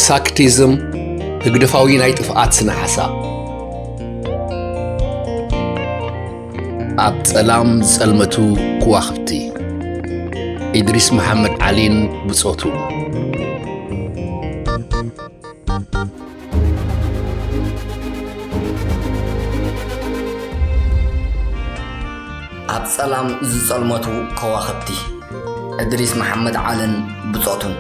ሳክቲዝም ህግደፋዊ ናይ ጥፍኣት ስነ ሓሳብ ኣብ ጸላም ጸልመቱ ክዋኽብቲ ኢድሪስ መሓመድ ዓሊን ብጾቱ ኣብ ጸላም ዝጸልመቱ ከዋኽብቲ እድሪስ መሓመድ ዓልን ብጾቱን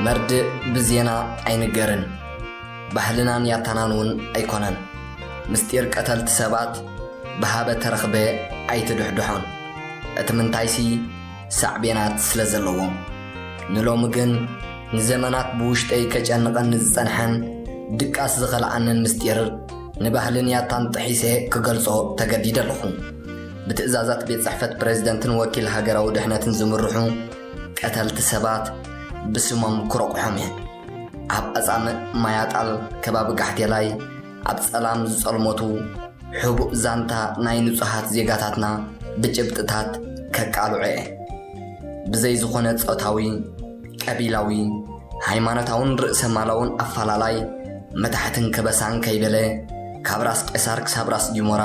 መርድእ ብዜና ኣይንገርን ባህልናን ያታናንውን ኣይኮነን ምስጢር ቀተልቲ ሰባት ብሃበ ተረኽበ ኣይትድሕድሖን እቲ ምንታይሲ ሳዕቤናት ስለ ዘለዎም ንሎሚ ግን ንዘመናት ብውሽጠይ ከጨንቐኒ ዝጸንሐን ድቃስ ዝኸልኣንን ምስጢር ንባህልን ያታን ጥሒሰ ክገልጾ ተገዲደ ኣለኹ። ብትእዛዛት ቤት ጽሕፈት ፕሬዝደንትን ወኪል ሃገራዊ ድሕነትን ዝምርሑ ቀተልቲ ሰባት ብስሞም ክረቑሖም እየ። ኣብ ኣጻምእ ማያጣል ከባቢ ጋሕቴላይ ኣብ ጸላም ዝጸልሞቱ ሕቡእ ዛንታ ናይ ንጹሃት ዜጋታትና ብጭብጥታት ከቃልዖ'የ። ብዘይ ዝኾነ ጾታዊ፣ ቀቢላዊ፣ ሃይማኖታውን ርእሰማላውን ኣፋላላይ መታሕትን ከበሳን ከይበለ ካብ ራስ ቄሳር ክሳብ ራስ ጊሞራ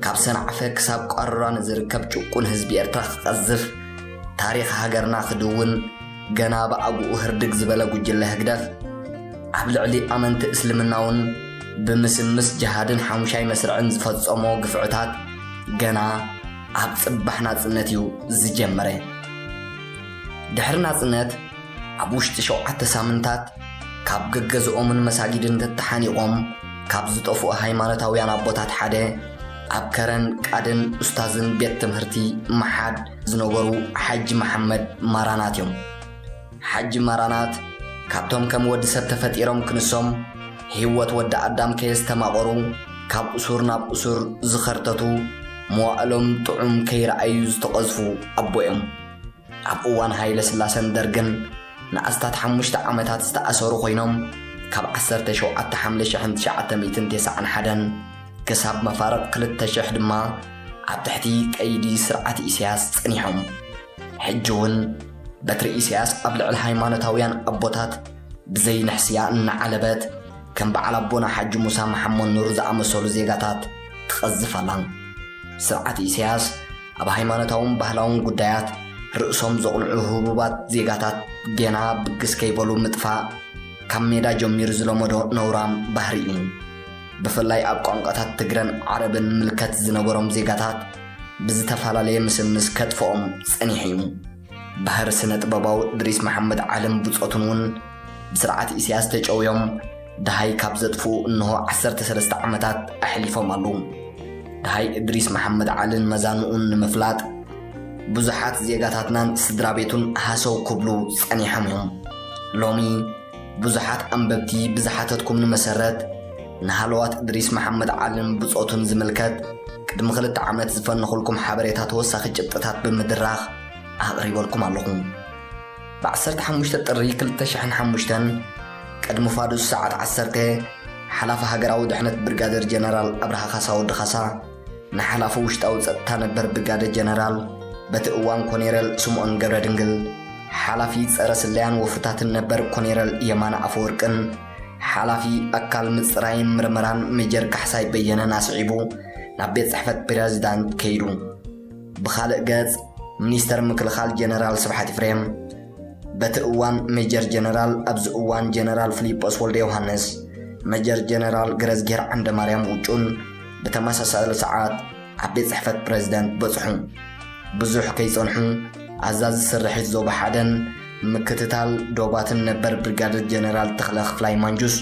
ካብ ሰንዓፈ ክሳብ ቋሮራ ንዝርከብ ጭቁን ህዝቢ ኤርትራ ክቀዝፍ ታሪኽ ሃገርና ክድውን ገና ብኣግኡ ህርድግ ዝበለ ጉጅለ ህግደፍ ኣብ ልዕሊ ኣመንቲ እስልምናውን ብምስምስ ጀሃድን ሓሙሻይ መስርዕን ዝፈጸሞ ግፍዕታት ገና ኣብ ጽባሕ ናጽነት እዩ ዝጀመረ ድሕሪ ናጽነት ኣብ ውሽጢ ሸውዓተ ሳምንታት ካብ ገገዝኦምን መሳጊድን ተተሓኒቖም ካብ ዝጠፍኡ ሃይማኖታውያን ኣቦታት ሓደ ኣብ ከረን ቃድን ኡስታዝን ቤት ትምህርቲ መሓድ ዝነበሩ ሓጂ መሓመድ ማራናት እዮም። ሓጂ ማራናት ካብቶም ከም ወዲ ሰብ ተፈጢሮም ክንሶም ህይወት ወዲ ኣዳም ከየስተማቐሩ ካብ እሱር ናብ እሱር ዝኸርተቱ መዋእሎም ጥዑም ከይረኣዩ ዝተቐዝፉ ኣቦ እዮም። ኣብ እዋን ሃይለስላሰን ደርግን ንኣስታት ሓሙሽተ ዓመታት ዝተኣሰሩ ኮይኖም ካብ ዓሰርተ ሸውዓተ ሓምለ ሽሕን ትሽዓተ ሚእትን ቴስዓን ሓደን ክሳብ መፋርቕ ክልተ ሽሕ ድማ ኣብ ትሕቲ ቀይዲ ስርዓት ኢሳያስ ጸኒሖም ሕጂ እውን በትሪ ኢሳያስ ኣብ ልዕሊ ሃይማኖታውያን ኣቦታት ብዘይ ንሕስያ እናዓለበት ከም በዓል ኣቦና ሓጂ ሙሳ መሓመድ ኑር ዝኣመሰሉ ዜጋታት ትቐዝፍ ኣላ ስርዓት ኢሳያስ ኣብ ሃይማኖታውን ባህላውን ጉዳያት ርእሶም ዘቕንዑ ህቡባት ዜጋታት ጌና ብግስ ከይበሉ ምጥፋእ ካብ ሜዳ ጀሚሩ ዝለመዶ ነውራም ባህሪ እዩ ብፍላይ ኣብ ቋንቋታት ትግረን ዓረብን ምልከት ዝነበሮም ዜጋታት ብዝተፈላለየ ምስምስ ከጥፍኦም ጸኒሑ እዩ ባህር ስነጥበባዊ እድሪስ መሓመድ ዓለም ብጾቱን እውን ብስርዓት ኢሳያስ ተጨውዮም ደሃይ ካብ ዘጥፍኡ እንሆ ዓሰርተ ሰለስተ ዓመታት ኣሕሊፎም ኣለዉ። ደሃይ እድሪስ መሓመድ ዓልን መዛንኡን ንምፍላጥ ብዙሓት ዜጋታትናን ስድራቤቱን ሃሰው ክብሉ ጸኒሖም እዮም። ሎሚ ብዙሓት ኣንበብቲ ብዝሓተትኩምኒ መሰረት ንሃለዋት እድሪስ መሓመድ ዓልን ብጾቱን ዝምልከት ቅድሚ ክልተ ዓመት ዝፈነኹልኩም ሓበሬታ ተወሳኺ ጭብጥታት ብምድራኽ ኣቕሪበልኩም ኣለኹ። ብ15 ጥሪ 2005 ቅድሚ ፋዱስ ሰዓት ዓሰርተ ሓላፊ ሃገራዊ ድሕነት ብርጋደር ጀነራል ኣብርሃ ካሳ ወዲ ካሳ ንሓላፊ ውሽጣዊ ጸጥታ ነበር ብጋደ ጀነራል በቲ እዋን ኮኔረል ስምኦን ገብረድንግል፣ ሓላፊ ጸረ ስለያን ወፍርታትን ነበር ኮኔረል የማነ ኣፈወርቅን ሓላፊ ኣካል ምጽራይን ምርመራን ሜጀር ካሕሳይ በየነን ኣስዒቡ ናብ ቤት ጽሕፈት ፕረዚዳንት ከይዱ። ብኻልእ ገጽ ሚኒስተር ምክልኻል ጀነራል ስብሓት ኢፍሬም በቲ እዋን ሜጀር ጀነራል ኣብዚ እዋን ጀነራል ፍሊጶስ ወልደዮሃንስ፣ መጀር ጀነራል ገረዝግሄር ዓንደማርያም ውጩን፣ ብተመሳሳሊ ሰዓት ኣብ ቤት ጽሕፈት ፕረዚደንት በጽሑ። ብዙሕ ከይጸንሑ ኣዛዚ ስርሒት ዞባ ሓደን ምክትታል ዶባትን ነበር ብርጋደር ጀነራል ተኽለ ክፍላይ ማንጁስ፣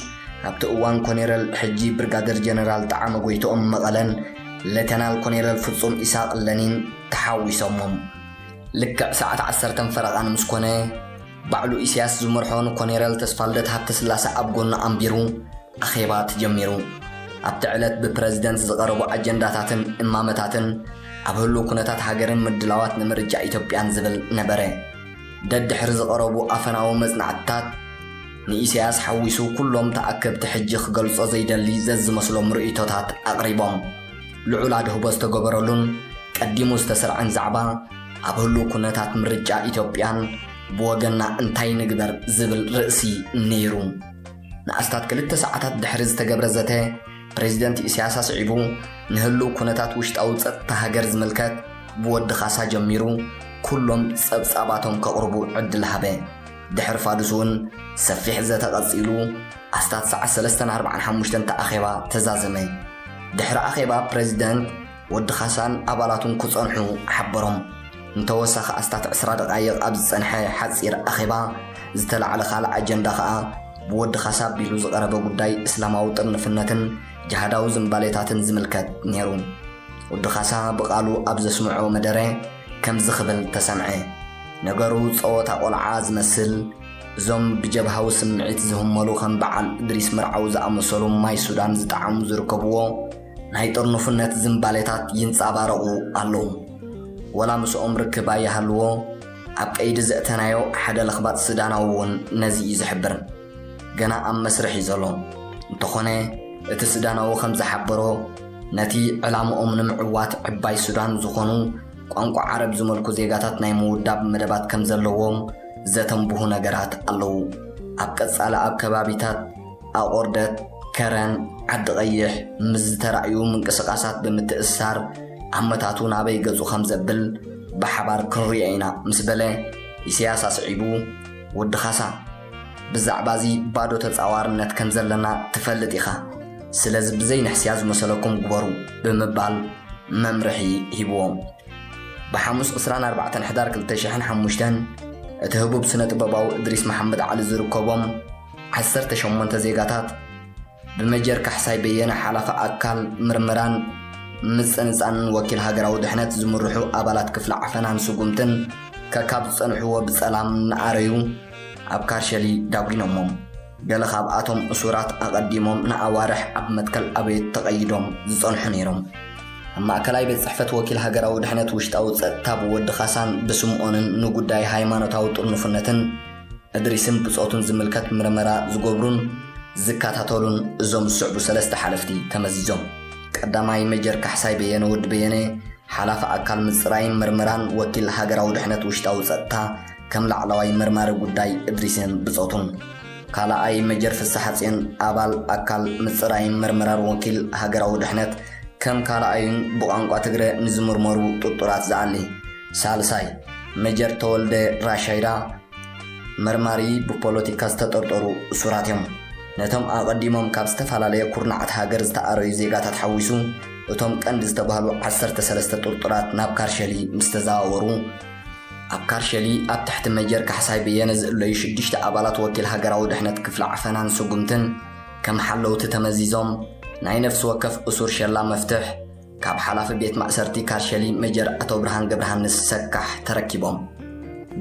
ኣብቲ እዋን ኮኔረል ሕጂ ብርጋደር ጀነራል ጠዓመ ጎይትኦም መቐለን ሌተናል ኮኔረል ፍጹም ኢሳቕ ለኒን ተሓዊሶሞም። ልክዕ ሰዓት ዓሰርተን ፈረቓን ምስ ኮነ፣ ባዕሉ ኢሲያስ ዝመርሖ ንኮኔረል ተስፋልደት ሃብተስላሰ ኣብ ጎኑ ኣንቢሩ ኣኼባ ተጀሚሩ። ኣብቲ ዕለት ብፕረዚደንት ዝቐረቡ ኣጀንዳታትን እማመታትን ኣብ ህሉው ኩነታት ሃገርን ምድላዋት ንምርጫ ኢትዮጵያን ዝብል ነበረ። ደድሕሪ ዝቐረቡ ኣፈናዊ መጽናዕትታት ንኢሲያስ ሓዊሱ ኩሎም ተኣከብቲ ሕጂ ክገልጾ ዘይደሊ ዘዝመስሎም ርእይቶታት ኣቕሪቦም። ልዑል ኣድህቦ ዝተገበረሉን ቀዲሙ ዝተሰርዐን ዛዕባ ኣብ ህሉው ኩነታት ምርጫ ኢትዮጵያን ብወገንና እንታይ ንግበር ዝብል ርእሲ ነይሩ። ንኣስታት ክልተ ሰዓታት ድሕሪ ዝተገብረ ዘተ ፕረዚደንት ኢሳያስ ኣስዒቡ ንህሉው ኩነታት ውሽጣዊ ጸጥታ ሃገር ዝምልከት ብወዲ ካሳ ጀሚሩ ኩሎም ጸብጻባቶም ከቕርቡ ዕድል ሃበ። ድሕሪ ፋዱስ እውን ሰፊሕ ዘተ ቀጺሉ ኣስታት ሰዓት ሰለስተን ኣርብዓን ሓሙሽተን እቲ ኣኼባ ተዛዘመ። ድሕሪ ኣኼባ ፕረዚደንት ወዲ ካሳን ኣባላቱን ክጸንሑ ሓበሮም። ንተወሳኺ ኣስታት ዕስራ ደቓይቕ ኣብ ዝጸንሐ ሓጺር ኣኼባ ዝተላዕለ ካልእ ኣጀንዳ ከኣ፣ ብወዲ ካሳ ኣቢሉ ዝቐረበ ጉዳይ እስላማዊ ጥርንፍነትን ጅሃዳዊ ዝምባሌታትን ዝምልከት ነይሩ። ወዲ ካሳ ብቓሉ ኣብ ዘስምዖ መደረ ከምዚ ክብል ተሰምዐ፣ ነገሩ ጸወታ ቆልዓ ዝመስል፣ እዞም ብጀብሃዊ ስምዒት ዝህመሉ ከም በዓል እድሪስ መርዓዊ ዝኣመሰሉ ማይ ሱዳን ዝጠዓሙ ዝርከብዎ፣ ናይ ጥርኑፍነት ዝንባሌታት ይንጻባረቑ ኣለዉ። ወላ ምስኦም ርክብ ኣይሃልዎ፣ ኣብ ቀይዲ ዘእተናዮ ሓደ ለኽባጥ ሱዳናዊ እውን ነዚ እዩ ዝሕብር። ገና ኣብ መስርሕ እዩ ዘሎ። እንተኾነ እቲ ሱዳናዊ ከም ዝሓበሮ፣ ነቲ ዕላምኦም ንምዕዋት ዕባይ ሱዳን ዝኾኑ ቋንቋ ዓረብ ዝመልኩ ዜጋታት ናይ ምውዳብ መደባት ከም ዘለዎም ዘተንብሁ ነገራት ኣለዉ። ኣብ ቀጻሊ ኣብ ከባቢታት። ኣቑርደት፣ ከረን፣ ዓዲ ቐይሕ ምስ ዝተራእዩ ምንቅስቓሳት ብምትእስሳር ኣመታቱ ናበይ ገጹ ከም ዘብል ብሓባር ክንሪኦ ኢና ምስ በለ ኢሰያስ ኣስዒቡ ወዲ ካሳ ብዛዕባዚ ባዶ ተጻዋርነት ከም ዘለና ትፈልጥ ኢኻ ስለዚ ብዘይ ንሕስያ ዝመሰለኩም ግበሩ ብምባል መምርሒ ሂብዎም ብሓሙስ 24 ሕዳር 2005 እቲ ህቡብ ስነ ጥበባዊ እድሪስ መሓመድ ዓሊ ዝርከቦም ዓሰርተ ሸሞንተ ዜጋታት ብመጀር ካሕሳይ በየነ ሓላፊ ኣካል ምርምራን ምጽንጻንን ወኪል ሃገራዊ ድሕነት ዝምርሑ ኣባላት ክፍሊ ዓፈናን ስጉምትን ከካብ ዝጸንሕዎ ብጸላም እናኣረዩ ኣብ ካርሸሊ ዳጒኖሞም። ገለ ካብኣቶም እሱራት ኣቐዲሞም ንኣዋርሕ ኣብ መትከል ኣበየት ተቐይዶም ዝጸንሑ ነይሮም። ኣብ ማእከላይ ቤት ጽሕፈት ወኪል ሃገራዊ ድሕነት ውሽጣዊ ጸጥታ ብወዲ ካሳን ብስምኦንን ንጉዳይ ሃይማኖታዊ ጥርኑፍነትን፣ እድሪስን ብጾቱን ዝምልከት ምርመራ ዝገብሩን ዝከታተሉን እዞም ዝስዕቡ ሰለስተ ሓለፍቲ ተመዚዞም። ቀዳማይ ሜጀር ካሕሳይ በየነ ወዲ በየነ፣ ሓላፊ ኣካል ምጽራይን ምርመራን ወኪል ሃገራዊ ድሕነት ውሽጣዊ ጸጥታ ከም ላዕለዋይ መርማሪ ጉዳይ እድሪስን ብጾቱን። ካልኣይ ሜጀር ፍስሓጽዮን ኣባል ኣካል ምጽራይን ምርመራን ወኪል ሃገራዊ ድሕነት ከም ካልኣዩን ብቋንቋ ትግረ ንዝምርመሩ ጥርጡራት ዝኣሊ። ሳልሳይ፣ ሜጀር ተወልደ ራሻይዳ መርማሪ ብፖለቲካ ዝተጠርጠሩ እሱራት እዮም። ነቶም ኣቐዲሞም ካብ ዝተፈላለየ ኩርናዓት ሃገር ዝተኣረዩ ዜጋታት ሓዊሱ እቶም ቀንዲ ዝተባህሉ ዓሰርተ ሰለስተ ጥርጡራት ናብ ካርሸሊ ምስ ተዘዋወሩ፣ ኣብ ካርሸሊ ኣብ ትሕቲ ሜጀር ካሕሳይ በየነ ዝእለዩ ሽዱሽተ ኣባላት ወኪል ሃገራዊ ድሕነት ክፍሊ ዓፈናን ስጉምትን ከም ሓለውቲ ተመዚዞም ናይ ነፍሲ ወከፍ እሱር ሸላ መፍትሕ፣ ካብ ሓላፊ ቤት ማእሰርቲ ካርሸሊ ሜጀር ኣቶብርሃን ገብረሃንስ ሰካሕ ተረኪቦም።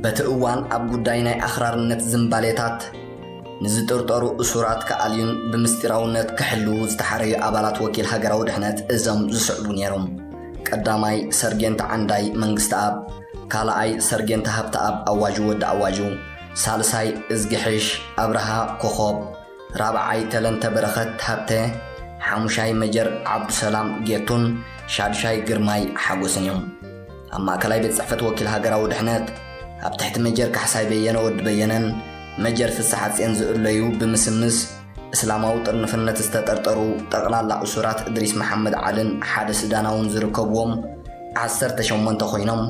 በቲ እዋን ኣብ ጉዳይ ናይ ኣኽራርነት ዝምባሌታት ንዝጥርጠሩ እሱራት ክኣልዩን ብምስጢራውነት ክሕልዉ ዝተሓረዩ ኣባላት ወኪል ሃገራዊ ድሕነት እዞም ዝስዕቡ ነይሮም፣ ቀዳማይ ሰርጌንት ዓንዳይ መንግስተኣብ፣ ካልኣይ ሰርጌንት ሃብተኣብ ኣዋጁ ወዲ ኣዋጁ፣ ሳልሳይ እዝግሕሽ ኣብርሃ ኮኾብ፣ ራብዓይ ተለንተ በረኸት ሃብተ፣ ሓሙሻይ መጀር ዓብዱሰላም ጌቱን ሻዱሻይ ግርማይ ሓጎስን እዮም። ኣብ ማእከላይ ቤት ጽሕፈት ወኪል ሃገራዊ ድሕነት፣ ኣብ ትሕቲ መጀር ካሕሳይ በየነ ወዲ በየነን መጀር ፍስሓጼን ዝእለዩ ብምስምስ እስላማዊ ጥርንፍነት ዝተጠርጠሩ ጠቕላላ እሱራት እድሪስ መሓመድ ዓልን ሓደ ሱዳናውን ዝርከብዎም ዓሰርተ ሸሞንተ ኮይኖም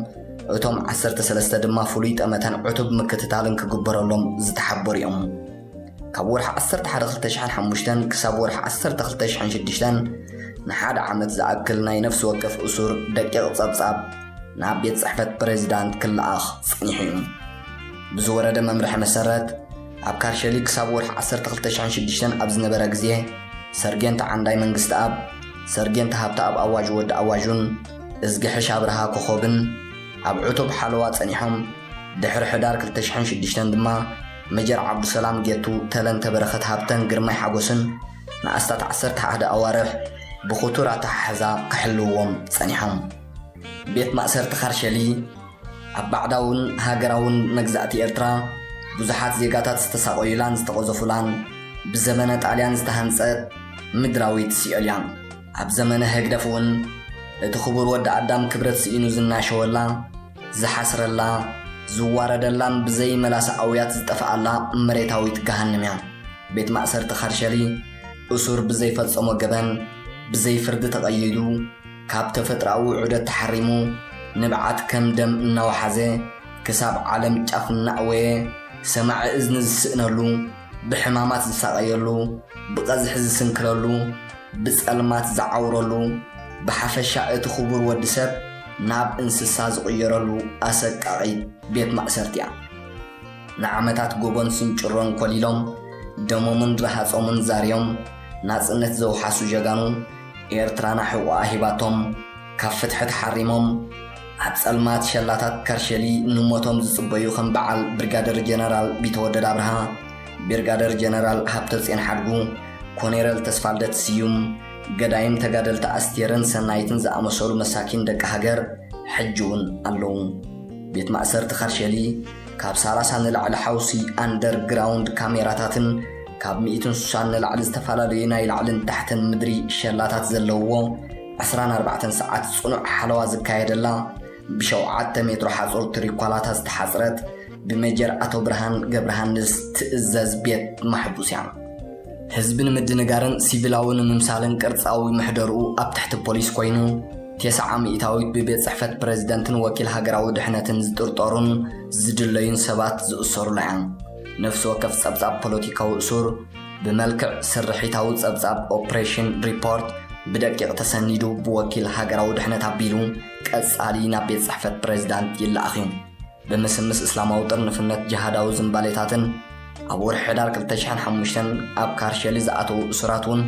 እቶም ዓሰርተ ሰለስተ ድማ ፍሉይ ጠመተን ዕቱብ ምክትታልን ክግበረሎም ዝተሓበሩ እዮም። ካብ ወርሒ ዓሰርተ ሓደ ክልተ ሽሕን ሓሙሽተን ክሳብ ወርሒ ዓሰርተ ክልተ ሽሕን ሽዱሽተን ንሓደ ዓመት ዝኣክል ናይ ነፍሲ ወከፍ እሱር ደቂቕ ጸብጻብ ናብ ቤት ጽሕፈት ፕሬዚዳንት ክለኣኽ ጸኒሑ እዩ ብዝወረደ መምርሒ መሰረት ኣብ ካርሸሊ ክሳብ ወርሒ ዓሰርተ ክልተ ሽሕን ሽዱሽተን ኣብ ዝነበረ ግዜ ሰርጌንት ዓንዳይ መንግስቲ ኣብ ሰርጌንት ሃብቲ ኣብ ኣዋጅ ወዲ ኣዋጁን እዝግሕሽ ኣብርሃ ኮኾብን ኣብ ዕቱብ ሓለዋ ጸኒሖም ድሕሪ ሕዳር ክልተ ሽሕን ሽዱሽተን ድማ መጀር ዓብዱሰላም ጌቱ ተለንተ በረኸት ሃብተን ግርማይ ሓጎስን ንኣስታት ዓሰርተ ሓደ ኣዋርሕ ብኽቱር ኣተሓሕዛ ክሕልውዎም ጸኒሖም። ቤት ማእሰርቲ ካርሸሊ ኣብ ባዕዳውን ሃገራውን መግዛእቲ ኤርትራ ብዙሓት ዜጋታት ዝተሳቐዩላን ዝተቐዘፉላን ብዘመነ ጣልያን ዝተሃንጸት ምድራዊት ሲኦል'ያ። ኣብ ዘመነ ህግደፍ'ውን እቲ ክቡር ወዲ ኣዳም ክብረት ስኢኑ ዝናሸወላ፣ ዝሓስረላ፣ ዝዋረደላን ብዘይ መላሰ ኣውያት ዝጠፈኣላ መሬታዊት ገሃንም እያ። ቤት ማእሰርቲ ካርሸሊ፣ እሱር ብዘይ ፈጸሞ ገበን፣ ብዘይ ፍርዲ ተቐይዱ፣ ካብ ተፈጥሮኣዊ ዑደት ተሓሪሙ፣ ንብዓት ከም ደም እናወሓዘ፣ ክሳብ ዓለም ጫፍ እናእወየ፣ ሰማዒ እዝኒ ዝስእነሉ፣ ብሕማማት ዝሳቐየሉ፣ ብቐዝሒ ዝስንክለሉ፣ ብጸልማት ዝዓውረሉ፣ ብሓፈሻ እቲ ክቡር ወዲ ሰብ ናብ እንስሳ ዝቕየረሉ ኣሰቃቒት ቤት ማእሰርቲ እያ። ንዓመታት ጎቦን ስንጭሮን ኮሊሎም፣ ደሞምን ረሃጾምን ዛርዮም፣ ናጽነት ዘውሓሱ ጀጋኑ ኤርትራና ሕቖኣ ሂባቶም፣ ካብ ፍትሒ ተሓሪሞም ኣብ ጸልማት ሸላታት ከርሸሊ ንሞቶም ዝጽበዩ ከም በዓል ብርጋደር ጀነራል ቢተወደድ ኣብርሃ፣ ቢርጋደር ጀነራል ሃብተጽዮን ሓድጉ፣ ኮኔረል ተስፋልደት ስዩም፣ ገዳይም ተጋደልቲ ኣስቴርን ሰናይትን ዝኣመሰሉ መሳኪን ደቂ ሃገር ሕጂ'ውን ኣለዉ። ቤት ማእሰርቲ ከርሸሊ ካብ ሳላሳ ንላዕሊ ሓውሲ ኣንደር ግራውንድ ካሜራታትን ካብ ሚእትን ሱሳን ንላዕሊ ዝተፈላለዩ ናይ ላዕልን ታሕትን ምድሪ ሸላታት ዘለውዎ ዕስራን ኣርባዕተን ሰዓት ጽኑዕ ሓለዋ ዝካየደላ፣ ብሸውዓተ ሜትሮ ሓጹር ትሪኳላታ ዝተሓጽረት፣ ብሜጀር ኣቶብርሃን ገብረሃንስ ትእዘዝ ቤት ማሕቡስ እያ። ህዝቢ ንምድንጋርን ሲቪላዊ ንምምሳልን ቅርጻዊ ምሕደርኡ ኣብ ትሕቲ ፖሊስ ኮይኑ፣ ቴሰዓ ሚእታዊት ብቤት ጽሕፈት ፕረዚደንትን ወኪል ሃገራዊ ድሕነትን ዝጥርጠሩን ዝድለዩን ሰባት ዝእሰሩላ እያ። ነፍሲ ወከፍ ጸብጻብ ፖለቲካዊ እሱር፣ ብመልክዕ ስርሒታዊ ጸብጻብ ኦፕሬሽን ሪፖርት ብደቂቕ ተሰኒዱ ብወኪል ሃገራዊ ድሕነት ኣቢሉ ቀጻሊ ናብ ቤት ጽሕፈት ፕሬዝዳንት ይለኣኽ እዩ። ብምስምስ እስላማዊ ጥርንፍነት ጅሃዳዊ ዝምባሌታትን ኣብ ወርሒ ሕዳር 2005 ኣብ ካርሸሊ ዝኣተዉ እሱራት እውን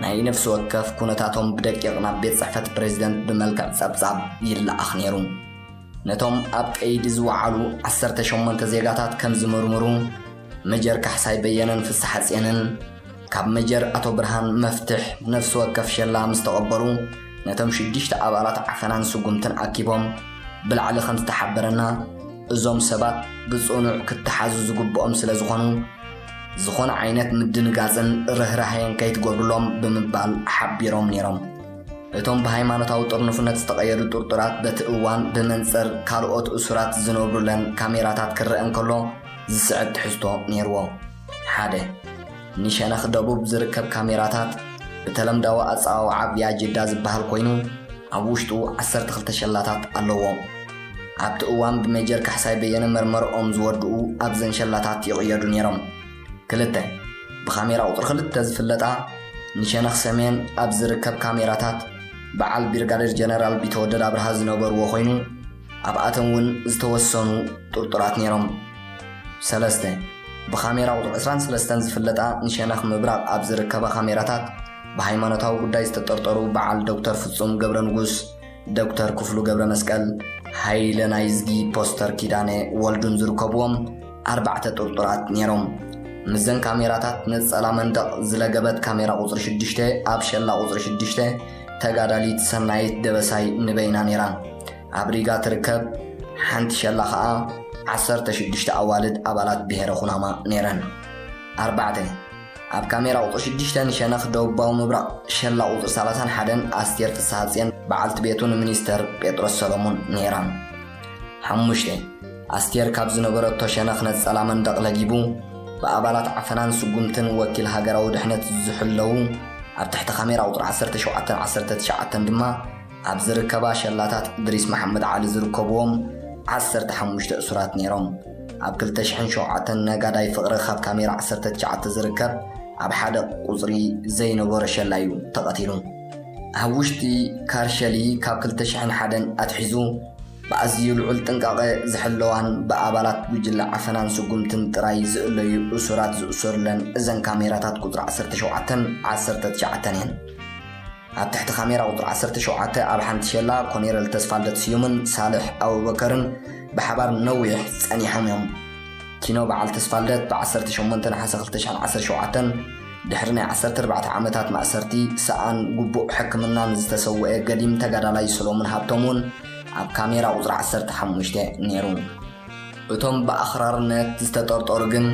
ናይ ነፍሲ ወከፍ ኩነታቶም ብደቂቕ ናብ ቤት ጽሕፈት ፕሬዝደንት ብመልክዕ ጸብጻብ ይለኣኽ ነይሩ። ነቶም ኣብ ቀይዲ ዝወዓሉ 18 ዜጋታት ከም ዝምርምሩ መጀር ካሕሳይ በየነን ፍስሓጼንን ካብ መጀር ኣቶ ብርሃን መፍትሕ ነፍሲ ወከፍ ሸላ ምስ ተቐበሉ ነቶም ሽዱሽተ ኣባላት ዓፈናን ስጉምትን ኣኪቦም ብላዕሊ ከም ዝተሓበረና እዞም ሰባት ብጽኑዕ ክተሓዙ ዝግብኦም ስለ ዝኾኑ ዝኾነ ዓይነት ምድንጋጽን ርህራሄን ከይትገብሩሎም ብምባል ሓቢሮም ነይሮም። እቶም ብሃይማኖታዊ ጥርኑፍነት ዝተቐየዱ ጥርጡራት በቲ እዋን ብመንጽር ካልኦት እሱራት ዝነብሩለን ካሜራታት ክረአ እንከሎ ዝስዕብ ትሕዝቶ ነይርዎ። ሓደ። ንሸነኽ ደቡብ ዝርከብ ካሜራታት ብተለምዳዊ ኣጸዋውዓ ቪያጀዳ ዝበሃል ኮይኑ፣ ኣብ ውሽጡ ዓሰርተ ክልተ ሸላታት ኣለዎ። ኣብቲ እዋን ብሜጀር ካሕሳይ በየነ መርመርኦም ዝወድኡ ኣብዘን ሸላታት ይቕየዱ ነይሮም። ክልተ። ብካሜራ ቁጽሪ ክልተ ዝፍለጣ ንሸነኽ ሰሜን ኣብ ዝርከብ ካሜራታት በዓል ቢርጋዴር ጀነራል ቢተወደድ ኣብርሃ ዝነበርዎ ኮይኑ፣ ኣብኣቶም እውን ዝተወሰኑ ጥርጡራት ነይሮም። ሰለስተ፣ ብካሜራ ቁጽሪ ዕስራን ሰለስተን ዝፍለጣ ንሸነኽ ምብራቕ ኣብ ዝርከባ ካሜራታት ብሃይማኖታዊ ጉዳይ ዝተጠርጠሩ በዓል ዶክተር ፍጹም ገብረንጉስ፣ ዶክተር ክፍሉ ገብረመስቀል፣ ሃይለ ናይዝጊ፣ ፖስተር ኪዳነ ወልዱን ዝርከቡዎም ኣርባዕተ ጥርጡራት ነይሮም። ምስዘን ካሜራታት ነጸላ መንደቕ ዝለገበት ካሜራ ቁጽሪ ሽዱሽተ ኣብ ሸላ ቁጽሪ ሽዱሽተ፣ ተጋዳሊት ሰናይት ደበሳይ ንበይና ነይራ ኣብ ሪጋ ትርከብ፣ ሓንቲ ሸላ ኸኣ ዓሰርተ ሽዱሽተ ኣዋልድ ኣባላት ብሄረ ኩናማ ነይረን። ኣርባዕተ ኣብ ካሜራ ቁፅሪ ሽዱሽተ ንሸነኽ ደቡባዊ ምብራቕ ሸላ ቁፅሪ ሰላሳን ሓደን ኣስቴር ፍስሃጽዮን በዓልቲ ቤቱ ንሚኒስተር ጴጥሮስ ሰለሙን ነይራ። ሓሙሽተ ኣስቴር ካብ ዝነበረቶ ሸነኽ ነጸላ መንደቕ ለጊቡ፣ ብኣባላት ዓፈናን ስጉምትን ወኪል ሃገራዊ ድሕነት ዝሕለዉ፣ ኣብ ትሕቲ ካሜራ ቁጽሪ ዓሰርተ ሸውዓተን ዓሰርተ ትሽዓተን ድማ ኣብ ዝርከባ ሸላታት እድሪስ መሓመድ ዓሊ ዝርከብዎም ዓሰርተ ሓሙሽተ እሱራት ነይሮም። ኣብ ክልተ ሽሕን ሸውዓተን ነጋዳይ ፍቕሪ ካብ ካሜራ ዓሰርተ ትሽዓተ ዝርከብ ኣብ ሓደ ቁጽሪ ዘይነበሮ ሸላ'ዩ ተቐቲሉ። ኣብ ውሽጢ ካርሸሊ ካብ ክልተ ሽሕን ሓደን ኣትሒዙ፣ ብኣዝዩ ልዑል ጥንቃቐ ዝሕለዋን ብኣባላት ጉጅለ ዓፈናን ስጉምትን ጥራይ ዝእለዩ እሱራት ዝእሰሩለን እዘን ካሜራታት ቁጽሪ ዓሰርተ ሸውዓተን ዓሰርተ ትሽዓተን እየን። ኣብ ትሕቲ ካሜራ ቁጽሪ ዓሰርተ ሸውዓተ ኣብ ሓንቲ ሸላ ኮኔረል ተስፋልደት ስዩምን ሳልሕ ኣቡበከርን ብሓባር ንነዊሕ ጸኒሖም እዮም። ኪኖ በዓል ተስፋልደት ብ ዓሰርተ ሸሞንተ ነሓሰ ክልተ ሽሕን ዓሰርተ ሸውዓተን ድሕሪ ናይ ዓሰርተ ኣርባዕተ ዓመታት ማእሰርቲ፣ ሰኣን ግቡእ ሕክምናን ዝተሰወኤ ገዲም ተጋዳላይ ሰሎሙን ሃብቶም'ውን፣ ኣብ ካሜራ ቁጽሪ ዓሰርተ ሓሙሽተ ነይሩ። እቶም ብኣኽራርነት ዝተጠርጠሩ ግን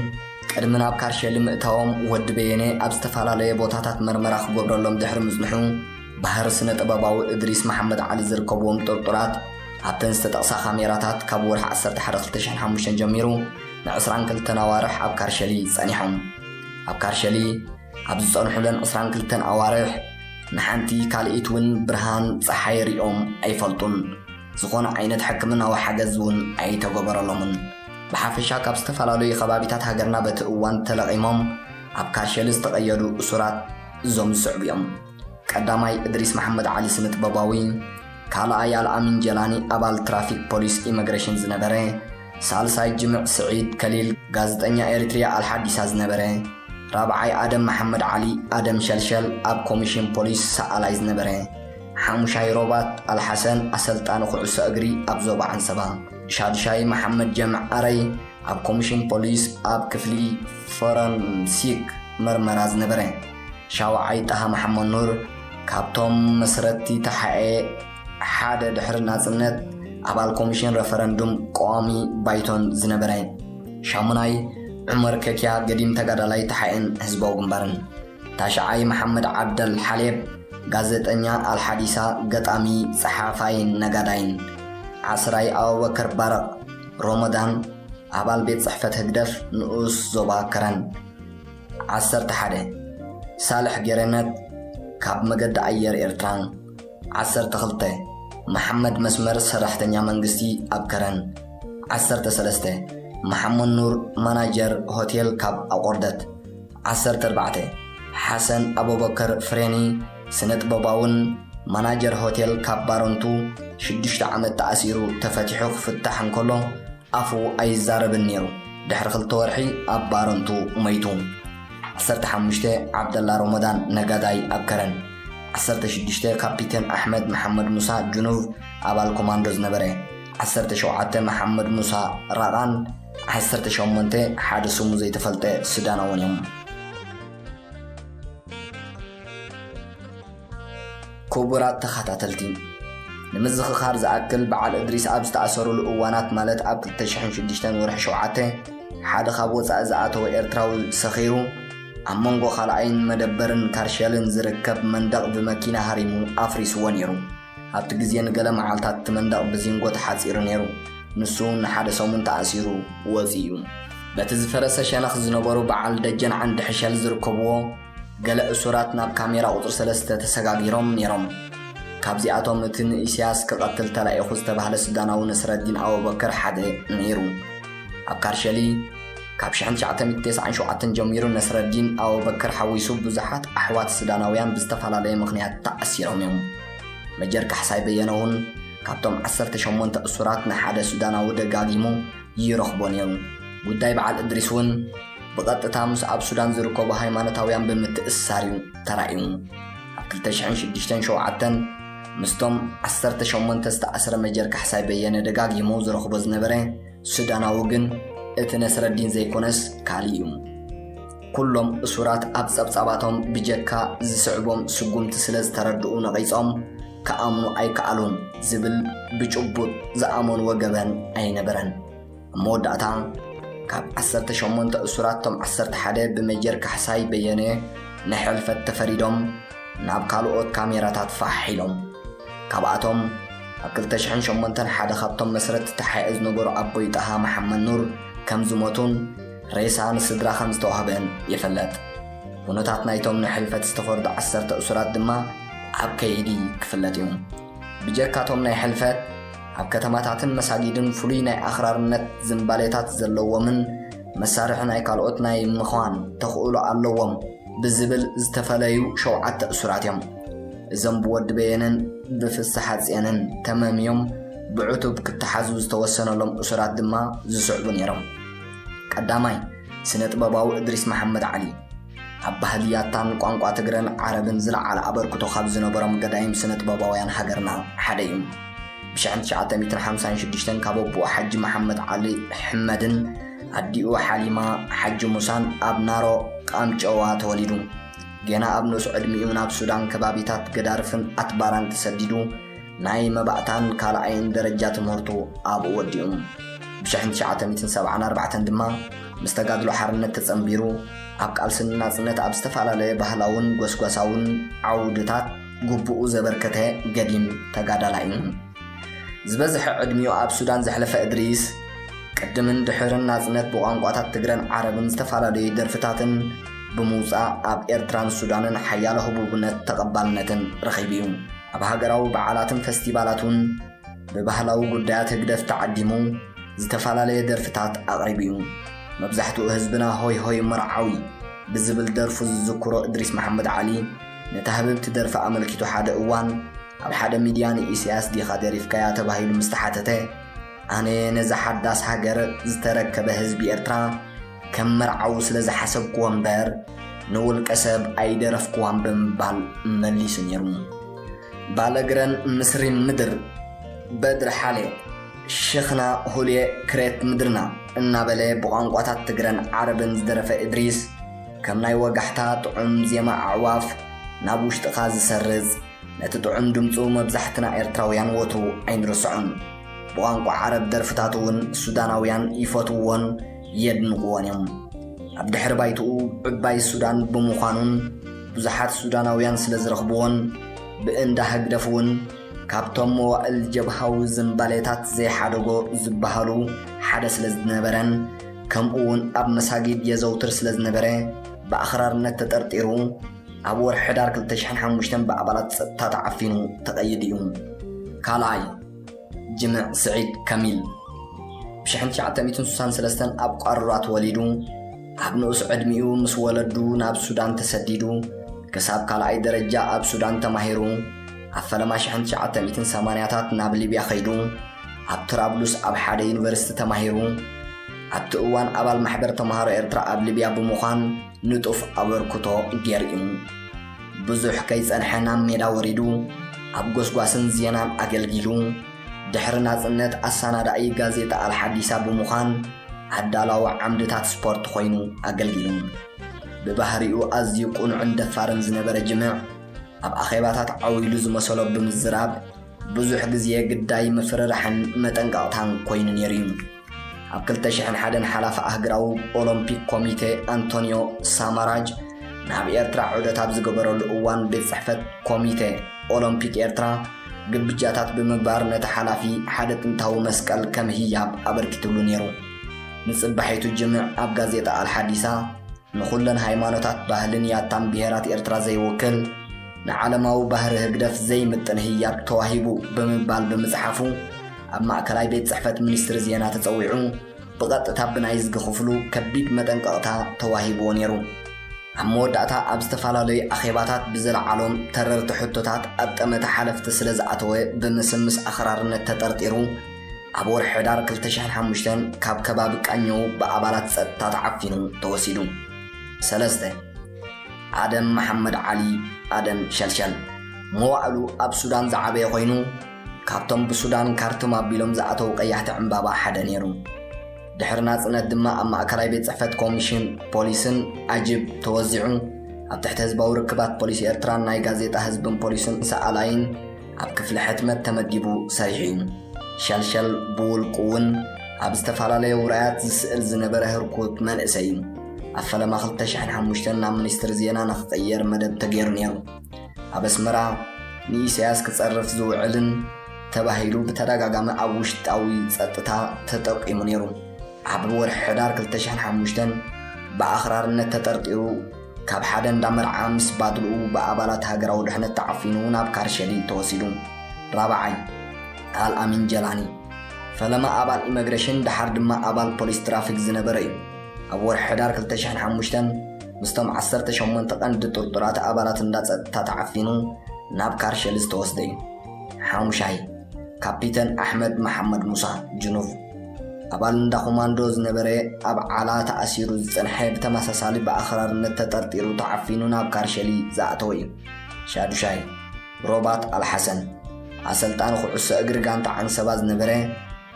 ቅድሚ ናብ ካርሸሊ ምእታዎም ወዲ በየነ ኣብ ዝተፈላለየ ቦታታት መርመራ ክገብረሎም ድሕሪ ምጽንሑ ባህሪ ስነ ጥበባዊ እድሪስ መሓመድ ዓሊ ዝርከብዎም ጥርጡራት ኣብተን ዝተጠቕሳ ካሜራታት ካብ ወርሒ ዓሰርተ ሓደ ክልተ ሽሕን ሓሙሽተን ጀሚሩ ንዕስራን ክልተን ኣዋርሕ ኣብ ካርሸሊ ጸኒሖም ኣብ ካርሸሊ ኣብ ዝጸንሑለን ዕስራን ክልተን ኣዋርሕ ንሓንቲ ካልኢት እውን ብርሃን ጸሓይ ሪኦም ኣይፈልጡን። ዝኾነ ዓይነት ሕክምናዊ ሓገዝ እውን ኣይተገበረሎምን። ብሓፈሻ ካብ ዝተፈላለዩ ከባቢታት ሃገርና በቲ እዋን ተለቒሞም ኣብ ካሸሊ ዝተቐየዱ እሱራት እዞም ዝስዕቡ እዮም። ቀዳማይ እድሪስ መሓመድ ዓሊ ስነጥበባዊ፣ ካልኣይ ኣልኣሚን ጀላኒ ኣባል ትራፊክ ፖሊስ ኢመግረሽን ዝነበረ፣ ሳልሳይ ጅምዕ ስዒድ ከሊል ጋዘጠኛ ኤሪትሪያ ኣልሓዲሳ ዝነበረ፣ ራብዓይ ኣደም መሓመድ ዓሊ ኣደም ሸልሸል ኣብ ኮሚሽን ፖሊስ ሰኣላይ ዝነበረ፣ ሓሙሻይ ሮባት ኣልሓሰን ኣሰልጣኒ ኩዕሶ እግሪ ኣብ ዞባ ዓንሰባ፣ ሻድሻይ መሓመድ ጀምዕ ኣረይ ኣብ ኮሚሽን ፖሊስ ኣብ ክፍሊ ፎረንሲክ መርመራ ዝነበረ። ሻውዓይ ጣሃ መሓመኑር ካብቶም መስረትቲ ተሓኤ ሓደ ድሕሪ ናጽነት ኣባል ኮሚሽን ረፈረንዱም ቀዋሚ ባይቶን ዝነበረ። ሻሙናይ ዑመር ከኪያ ገዲም ተጋዳላይ ተሓኤን ህዝባዊ ግንባርን። ታሽዓይ መሓመድ ዓብደል ሓሌብ ጋዘጠኛ ኣልሓዲሳ ገጣሚ ጸሓፋይን ነጋዳይን። ዓስራይ ኣቡበከር ባረቅ ሮሞዳን ኣባል ቤት ጽሕፈት ህግደፍ ንኡስ ዞባ ከረን። ዓሰርተ ሓደ፣ ሳልሕ ገሬነት ካብ መገዲ ኣየር ኤርትራን ዓሰርተ ክልተ፣ መሓመድ መስመር ሰራሕተኛ መንግስቲ ኣብ ከረን ዓሰርተ ሰለስተ፣ መሓመድ ኑር ማናጀር ሆቴል ካብ ኣቖርደት ዓሰርተ ኣርባዕተ፣ ሓሰን ኣቡበከር ፍሬኒ ስነጥበባውን ማናጀር ሆቴል ካብ ባረንቱ ሽዱሽተ ዓመት ተኣሲሩ ተፈቲሑ ክፍታሕ እንከሎ፣ ኣፉ ኣይዛረብን ነይሩ። ድሕሪ ክልተ ወርሒ ኣብ ባረንቱ መይቱ። ዓሰርተ ሓሙሽተ ዓብደላ ሮሞዳን ነጋዳይ ኣብ ከረን። ዓሰርተ ሽዱሽተ ካፒቴን ኣሕመድ መሓመድ ሙሳ ጁኑቭ ኣባል ኮማንዶ ዝነበረ። ዓሰርተ ሸውዓተ መሓመድ ሙሳ ራቓን ዓሰርተ ሸሞንተ ሓደ ስሙ ዘይተፈልጠ ሱዳናውን እዮም። ኩቡራት ተኻታተልቲ ንምዝኽኻር ዝኣክል በዓል እድሪስ ኣብ ዝተኣሰሩሉ እዋናት ማለት ኣብ ክልተ ሽሕን ሽዱሽተን ወርሒ ሸውዓተ ሓደ ካብ ወጻኢ ዝኣተወ ኤርትራዊ ሰኺሩ ኣብ መንጎ ካልኣይን መደበርን ካርሸልን ዝርከብ መንደቕ ብመኪና ሃሪሙ ኣፍሪስዎ ነይሩ። ኣብቲ ግዜ ንገለ መዓልታት እቲ መንደቕ ብዚንጎ ተሓጺሩ ነይሩ። ንሱ እውን ንሓደ ሰሙን ተኣሲሩ ወጺኡ። በቲ ዝፈረሰ ሸነኽ ዝነበሩ በዓል ደጀን ዓንዲ ሕሸል ዝርከብዎ፣ ገለ እሱራት ናብ ካሜራ ቁጽሪ ሰለስተ ተሰጋጊሮም ነይሮም። ካብዚኣቶም እቲ ንኢሲያስ ክቐትል ተላኢኹ ዝተባህለ ሱዳናዊ ነስረዲን ኣቡበከር ሓደ ነይሩ። ኣብ ካርሸሊ ካብ ሽሕን ትሽዓተ ሚእቲ ተስዓን ሸውዓተን ጀሚሩ ነስረዲን ኣቡበከር ሓዊሱ ብዙሓት ኣሕዋት ሱዳናውያን ብዝተፈላለየ ምኽንያት ተኣሲሮም እዮም። መጀር ካሕሳይ በየነ እውን ካብቶም ዓሰርተ ሸሞንተ እሱራት ንሓደ ሱዳናዊ ደጋጊሙ ይረኽቦ ነይሩ። ጉዳይ በዓል እድሪስ እውን ብቐጥታ ምስ ኣብ ሱዳን ዝርከቡ ሃይማኖታውያን ብምትእስሳር እዩ ተራእዩ። ኣብ 2006ን 7ን ምስቶም 18 ዝተኣስረ መጀር ካሕሳይ በየነ ደጋጊሙ ዝረኽቦ ዝነበረ ሱዳናዊ ግን እቲ ነስረዲን ዘይኮነስ ካልእ እዩ። ኩሎም እሱራት ኣብ ጸብጻባቶም ብጀካ ዝስዕቦም ስጉምቲ ስለ ዝተረድኡ ነቒጾም ክኣምኑ ኣይከኣሉን ዝብል ብጭቡጥ ዝኣመንዎ ገበን ኣይነበረን። ኣብ መወዳእታ ካብ ዓሰርተ ሸሞንተ እሱራት እቶም ዓሰርተ ሓደ ብመጀር ካሕሳይ በየነ ንሕልፈት ተፈሪዶም ናብ ካልኦት ካሜራታት ፋሕ ኢሎም ካብኣቶም ኣብ 2008 ሓደ ካብቶም መስረት ተሓኤ ዝነበሩ ኣቦይ ጣሃ መሓመድ ኑር ከም ዝሞቱን ሬሳ ንስድራ ከም ዝተዋህበን ይፍለጥ ኩነታት ናይቶም ንሕልፈት ዝተፈርዱ ዓሰርተ እሱራት ድማ ኣብ ከይዲ ክፍለጥ እዩ ብጀካቶም ናይ ሕልፈት ኣብ ከተማታትን መሳጊድን ፍሉይ ናይ ኣኽራርነት ዝንባሌታት ዘለዎምን መሳርሒ ናይ ካልኦት ናይ ምዃን ተኽእሎ ኣለዎም ብዝብል ዝተፈለዩ ሸውዓተ እሱራት እዮም። እዞም ብወዲ በየነን ብፍስሓጽየንን ተመምዮም ብዕቱብ ክተሓዙ ዝተወሰነሎም እሱራት ድማ ዝስዕቡ ነይሮም። ቀዳማይ፣ ስነ ጥበባዊ እድሪስ መሓመድ ዓሊ፣ ኣብ ባህሊ ያታን ቋንቋ ትግረን ዓረብን ዝለዓለ ኣበርክቶ ካብ ዝነበሮም ገዳይም ስነጥበባውያን ሃገርና ሓደ እዩ። ብሽሕን ትሽዓተ ሚእትን ሓምሳን ሽዱሽተን ካብ ኣቦኡ ሓጂ መሓመድ ዓሊ ሕመድን ኣዲኡ ሓሊማ ሓጂ ሙሳን ኣብ ናሮ ቃምጨዋ ተወሊዱ። ጌና ኣብ ንኡስ ዕድሚኡ ናብ ሱዳን ከባቢታት ገዳርፍን ኣትባራን ተሰዲዱ ናይ መባእታን ካልኣይን ደረጃ ትምህርቱ ኣብኡ ወዲኡ። ብሽሕን ትሽዓተ ሚእትን ሰብዓን ኣርባዕተን ድማ ምስ ተጋድሎ ሓርነት ተጸንቢሩ ኣብ ቃልሲ ንናጽነት ኣብ ዝተፈላለየ ባህላውን ጎስጓሳውን ዓውድታት ግቡኡ ዘበርከተ ገዲም ተጋዳላይ እዩ። ዝበዝሐ ዕድሚኡ ኣብ ሱዳን ዘሕለፈ እድሪስ፣ ቅድምን ድሕርን ናጽነት ብቋንቋታት ትግረን ዓረብን ዝተፈላለዩ ደርፍታትን ብምውጻእ ኣብ ኤርትራን ሱዳንን ሓያሎ ህቡብነት ተቐባልነትን ረኺቡ'ዩ። ኣብ ሃገራዊ በዓላትን ፈስቲቫላቱን ብባህላዊ ጉዳያት ህግደፍ ተዓዲሙ ዝተፈላለየ ደርፍታት ኣቕሪቡ'ዩ። መብዛሕትኡ ህዝብና ሆይ ሆይ መርዓዊ ብዝብል ደርፉ ዝዝክሮ እድሪስ መሓመድ ዓሊ ነታ ህብብቲ ደርፊ ኣመልኪቱ ሓደ እዋን ኣብ ሓደ ሚድያ ንኢሰያስ ዲኻ ደሪፍካያ ተባሂሉ ምስተሓተተ ኣነ ነዛ ሓዳስ ሃገር ዝተረከበ ህዝቢ ኤርትራ ከም መርዓዊ ስለ ዝሓሰብክዎ እምበር ንውልቀ ሰብ ኣይደረፍክዋን ብምባል መሊሱ ነይሩ። ባለግረን ምስ ሪም ምድር፣ በድሪ ሓሌ፣ ሽኽና ሁሌ ክሬት ምድርና እናበለ ብቋንቋታት ትግረን ዓረብን ዝደረፈ እድሪስ፣ ከም ናይ ወጋሕታ ጥዑም ዜማ ኣዕዋፍ ናብ ውሽጥኻ ዝሰርጽ፣ ነቲ ጥዑም ድምጹ መብዛሕትና ኤርትራውያን ወትሩ ኣይንርስዖን። ብቋንቋ ዓረብ ደርፍታቱ እውን ሱዳናውያን ይፈትውዎን የድንቕዎን እዮም። ኣብ ድሕሪ ባይትኡ ዕባይ ሱዳን ብምዃኑን ብዙሓት ሱዳናውያን ስለ ዝረኽብዎን ብእንዳ ህግደፍ እውን ካብቶም መዋእል ጀብሃዊ ዝምባሌታት ዘይሓደጎ ዝበሃሉ ሓደ ስለ ዝነበረን ከምኡ እውን ኣብ መሳጊድ የዘውትር ስለ ዝነበረ ብኣኽራርነት ተጠርጢሩ ኣብ ወርሒ ሕዳር ክልተ ሽሕን ሓሙሽተን ብኣባላት ጸጥታ ተዓፊኑ ተቐይዱ እዩ። ካልኣይ ጅምዕ ስዒድ ካሚል ብ ሽሕን ትሽዓተ ሚእትን ስሳን ሰለስተን ኣብ ቋርራ ተወሊዱ፣ ኣብ ንኡስ ዕድሚኡ ምስ ወለዱ ናብ ሱዳን ተሰዲዱ፣ ክሳብ ካልኣይ ደረጃ ኣብ ሱዳን ተማሂሩ፣ ኣብ ፈለማ ሽሕን ትሽዓተ ሚእትን ሰማንያታት ናብ ሊብያ ከይዱ፣ ኣብ ትራብሉስ ኣብ ሓደ ዩኒቨርሲቲ ተማሂሩ፣ ኣብቲ እዋን ኣባል ማሕበር ተማሃሮ ኤርትራ ኣብ ሊብያ ብምዃን ንጡፍ ኣበርክቶ ገይሩ'ዩ። ብዙሕ ከይጸንሐ ናብ ሜዳ ወሪዱ ኣብ ጎስጓስን ዜናን ኣገልጊሉ ድሕሪ ናጽነት ኣሰናዳኢ ጋዜጣ ኣልሓዲሳ ብምዃን ኣዳላዊ ዓምድታት ስፖርት ኮይኑ ኣገልጊሉ። ብባህሪኡ ኣዝዩ ቅኑዕን ደፋርን ዝነበረ ጅምዕ ኣብ ኣኼባታት ዓው ኢሉ ዝመሰሎ ብምዝራብ ብዙሕ ግዜ ግዳይ ምፍርራሕን መጠንቀቕታን ኮይኑ ነይሩ እዩ። ኣብ ክልተ ሽሕን ሓደን ሓላፊ ኣህግራዊ ኦሎምፒክ ኮሚቴ ኣንቶንዮ ሳማራጅ ናብ ኤርትራ ዑደት ኣብ ዝገበረሉ እዋን ቤት ጽሕፈት ኮሚቴ ኦሎምፒክ ኤርትራ ግብጃታት ብምግባር ነቲ ሓላፊ ሓደ ጥንታዊ መስቀል ከም ህያብ ኣበርኪትሉ ነይሩ። ንጽባሒቱ ጅምዕ ኣብ ጋዜጣ ኣልሓዲሳ ንኹለን ሃይማኖታት ባህልን ያታን ብሄራት ኤርትራ ዘይውክል ንዓለማዊ ባህሪ ህግደፍ ዘይምጥን ህያብ ተዋሂቡ ብምባል ብምጽሓፉ ኣብ ማእከላይ ቤት ጽሕፈት ሚኒስትሪ ዜና ተጸዊዑ ብቐጥታ ብናይ ዝጊ ክፍሉ ከቢድ መጠንቀቕታ ተዋሂብዎ ነይሩ። ኣብ መወዳእታ ኣብ ዝተፈላለዩ ኣኼባታት ብዘለዓሎም ተረርቲ ሕቶታት ኣብ ጠመተ ሓለፍቲ ስለ ዝኣተወ ብምስምስ ኣኽራርነት ተጠርጢሩ ኣብ ወርሒ ሕዳር ክልተ ሽሕን ሓሙሽተን ካብ ከባቢ ቃኘው ብኣባላት ጸጥታ ተዓፊኑ ተወሲዱ። ሰለስተ፣ ኣደም መሓመድ ዓሊ፣ ኣደም ሸልሸል፣ መዋእሉ ኣብ ሱዳን ዝዓበየ ኮይኑ፣ ካብቶም ብሱዳን ካርቱም ኣቢሎም ዝኣተዉ ቀያሕቲ ዕምባባ ሓደ ነይሩ። ድሕሪ ናጽነት ድማ ኣብ ማእከላይ ቤት ጽሕፈት ኮሚሽን ፖሊስን ኣጅብ ተወዚዑ ኣብ ትሕቲ ህዝባዊ ርክባት ፖሊስ ኤርትራን ናይ ጋዜጣ ህዝብን ፖሊስን ሰኣላይን ኣብ ክፍሊ ሕትመት ተመዲቡ ሰሪሑ እዩ። ሸልሸል ብውልቁ እውን ኣብ ዝተፈላለየ ውራያት ዝስእል ዝነበረ ህርኩት መንእሰይ እዩ። ኣብ ፈለማ 2005 ናብ ሚኒስትሪ ዜና ንክቕየር መደብ ተገይሩ ነይሩ። ኣብ ኣስመራ ንኢሳያስ ክጸርፍ ዝውዕልን ተባሂሉ ብተደጋጋሚ ኣብ ውሽጣዊ ጸጥታ ተጠቂሙ ነይሩ። ኣብ ወርሒ ሕዳር 2005 ብኣኽራርነት ተጠርጢሩ ካብ ሓደ እንዳ መርዓ ምስ ባድልኡ ብኣባላት ሃገራዊ ድሕነት ተዓፊኑ ናብ ካርሸሊ ተወሲዱ። ራብዓይ፣ ኣል ኣሚን ጀላኒ፣ ፈለማ ኣባል ኢመግረሽን ደሓር ድማ ኣባል ፖሊስ ትራፊክ ዝነበረ እዩ። ኣብ ወርሒ ሕዳር ክልተ ሽሕን ሓሙሽተን ምስቶም ዓሰርተ ሸሞንተ ቀንዲ ጥርጡራት ኣባላት እንዳ ጸጥታ ተዓፊኑ ናብ ካርሸሊ ዝተወስደ እዩ። ሓሙሻይ፣ ካፒተን ኣሕመድ መሓመድ ሙሳ፣ ጅኑቭ፣ ኣባል እንዳ ኮማንዶ ዝነበረ ኣብ ዓላ ተኣሲሩ ዝጸንሐ ብተመሳሳሊ ብኣኽራርነት ተጠርጢሩ ተዓፊኑ ናብ ካርሸሊ ዝኣተወ እዩ። ሻዱሻይ፣ ሮባት ኣልሓሰን፣ ኣሰልጣኒ ኩዕሶ እግሪ ጋንታ ዓንሰባ ዝነበረ፣